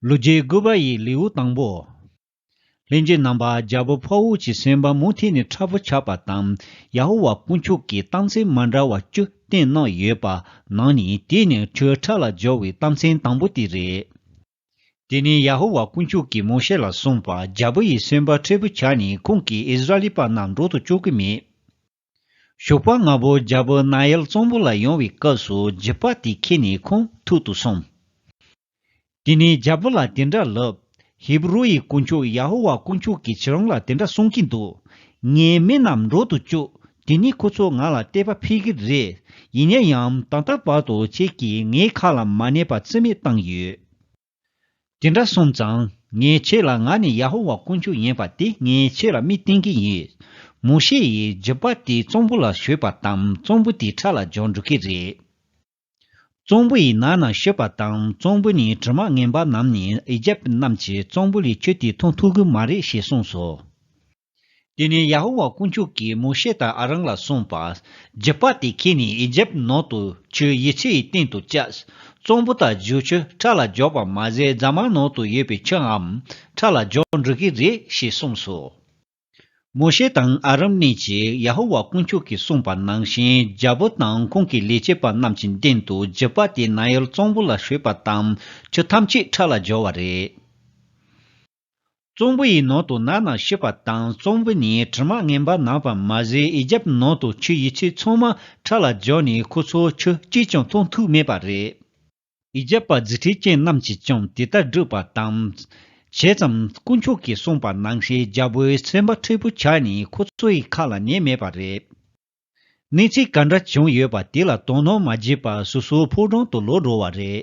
ལོ་བརྒྱའི་དགུ་བ་ཡི་ལེའུ་དང་པོ། ལྷན་སྐྱེས་རྣམ་པ་རྒྱལ་པོ་ཕཱ་ཝུ་ཅི་སེམས་དཔའ་མུ་མཐའི་ནས་ཁྲ་བོ་ཆགས་པ་དང་ཡ་ཧོ་ཝཱ་དཀོན་མཆོག་གི་རྟགས་མཚན་མ་འདྲ་བ་བཅུ་བསྟན་གནང་ཡོད་པ་ནང་ནས་དེ་ནི་ཁྲོའི་ཁྲ་ལ་སྦྱོར་བའི་རྟགས་མཚན་དང་པོ་དེ་རེད། དེ་ནས་ཡ་ཧོ་ཝཱ་དཀོན་མཆོག་གིས་མོ་ཤེ་ལ་གསུངས་པ་རྒྱལ་པོ་ཡི་སེམས་དཔའ་ཁྲ་བོ་ཆགས་ནས་ཁོང་གིས་ཨིསི་རཱ་ལི་པ་རྣམས་འགྲོ་དུ་བཅུག་གི་མེད། ཞོགས་པ་ང་བོ་རྒྱལ་པོ་རྣ་གཡལ་གཙང་པོ་ལ་ཡོང་བའི་སྐབས་སུ་རྗེ་དཔའ་དེ་ཁྱེད་ནི་ཁོང་ཐུག་ཏུ་སོང། དེ་ནས་རྒྱལ་པོ་ལ་དེ་འདྲ་ལབ། ཧེ་བུ་རུ་ཡི་དཀོན་མཆོག་ཡ་ཧོ་ཝཱ་དཀོན་མཆོག་གིས་ཁྱེད་རང་ལ་དེ་འདྲ་གསུང་གིན་འདུག་ངའི་མི་རྣམས་འགྲོ་དུ་བཅུག་དེ་ནས་ཁོ་ཚོ་ང་ལ་བལྟས་པ་ཕེབས་ཀྱི་རེད་ཡིན་ན་ཡང་ད་ལྟ་བར་དུ་ཁྱེད་ཀྱིས་ངའི་ཁ་ལ་མ་གནས་པ་རྩིས་མེད་བཏང་ཡོད། དེ་འདྲ་སོང་ཙང་ངས་ཁྱེད་ལ་ང་ནི་ཡ་ཧོ་ཝཱ་དཀོན་མཆོག་ཡིན་པ་དེ་ངས་ཁྱེད་ལ་མིག་བསྟན་གྱི་ཡིན། མོ་ཤེ་ཡིས་རྗི་པ་དེ་ཙོང་པུ་ལ་ཞོས་པ་དང་ཙོང་པུ་དེ་ཁྲག་ལ་སྦྱོར་འགྲོ་གི་རེད། ཙོང་པུ་ཡི་ནང་ན་ཤོད་པ་དང་ཙོང་པུ་ནི་དྲི་མ་ངན་པ་རྣམས་ནི་ཨི་ཇེབ་རྣམས་ཀྱིས་ཙོང་པུ་ལས་ཁྱོད་དེ་མཐོང་ཐུབ་གི་མ་རེད་ཞེས་གསུངས་སོ། དེ་ནས་ཡ་ཧོ་ཝཱ་དཀོན་མཆོག་གིས་མོ་ཤེ་དང་ཨ་རང་ལ་གསུངས་པ། རྒྱུད་པ་དེ་ཁྱེད་ནི་ཨི་ཇིབ་ནང་དུ་ཆུའི་ཡི་ཆུ་ཡི་སྟེང་དུ་བཅའ། གཙང་པོ་དང་བཞུ་ཆུ་ཁྲག་ལ་འཇོག་པ་མ་ཟད་རྫ་མ་ནང་དུ་ཡོད་པའི་ཆུའམ་ཁྲག་ལ་འཇོག་འགྲོ་གི་རེད་ཞེས་གསུངས་སོ། མོ་ཤེ་དང་ཨ་རང་གཉིས་ཀྱིས་ཡ་ཧོ་ཝཱ་དཀོན་མཆོག་གིས་གསུངས་པ་ནང་བཞིན་རྒྱལ་པོ་དང་ཁོང་གི་ལས་བྱེད་པ་རྣམས་ཀྱི་མདུན་དུ་རྒྱུད་པ་དེ་ན་ཡོལ་གཙང་པོ་ལ་ཞུས་པ་དང་ཆུ་ཐམས་ཅད་ཁྲག་ལ་སྦྱོར་བ་རེད། ཙོང་བུ་ཡི་ནང་དུ་ནག་ནག་ཤི་བ་དང་ཙོང་བུ་ནི་དྲི་མ་ངན་པ་ནག་པ་མ་ཟད་ཡི་རྒྱབ་ནང་དུ་ཆུ་ཡི་ཚིགས་ཚོང་མ་ཁྲག་ལ་འཇོག་ནས་ཁོ་ཚོ་ཆུ་གཅིག་ཀྱང་འཐུང་ཐུག་མེད་པ་རེད། ཡི་རྒྱབ་པ་རྫི་ཁྲི་ཅན་རྣམས་ཀྱིས་ཀྱང་དེ་ལྟར་བསྒྲུབས་པ་དང། བྱས་ཙང་དཀོན་མཆོག་གིས་གསུངས་པ་ནང་བཞིན་རྒྱལ་པོའི་སེམས་པ་མཁྲེགས་པོ་ཆགས་ནས་ཁོ་ཚོ་ཡི་ཁ་ལ་ཉན་མེད་པ་རེད། གནས་ཚུལ་ག་འདྲ་བྱུང་ཡོད་པ་དེ་ལ་དོ་སྣང་མ་བྱས་པར་སོ་སོའི་ཕོ་བྲང་དུ་ལོག་འགྲོ་བ་རེད།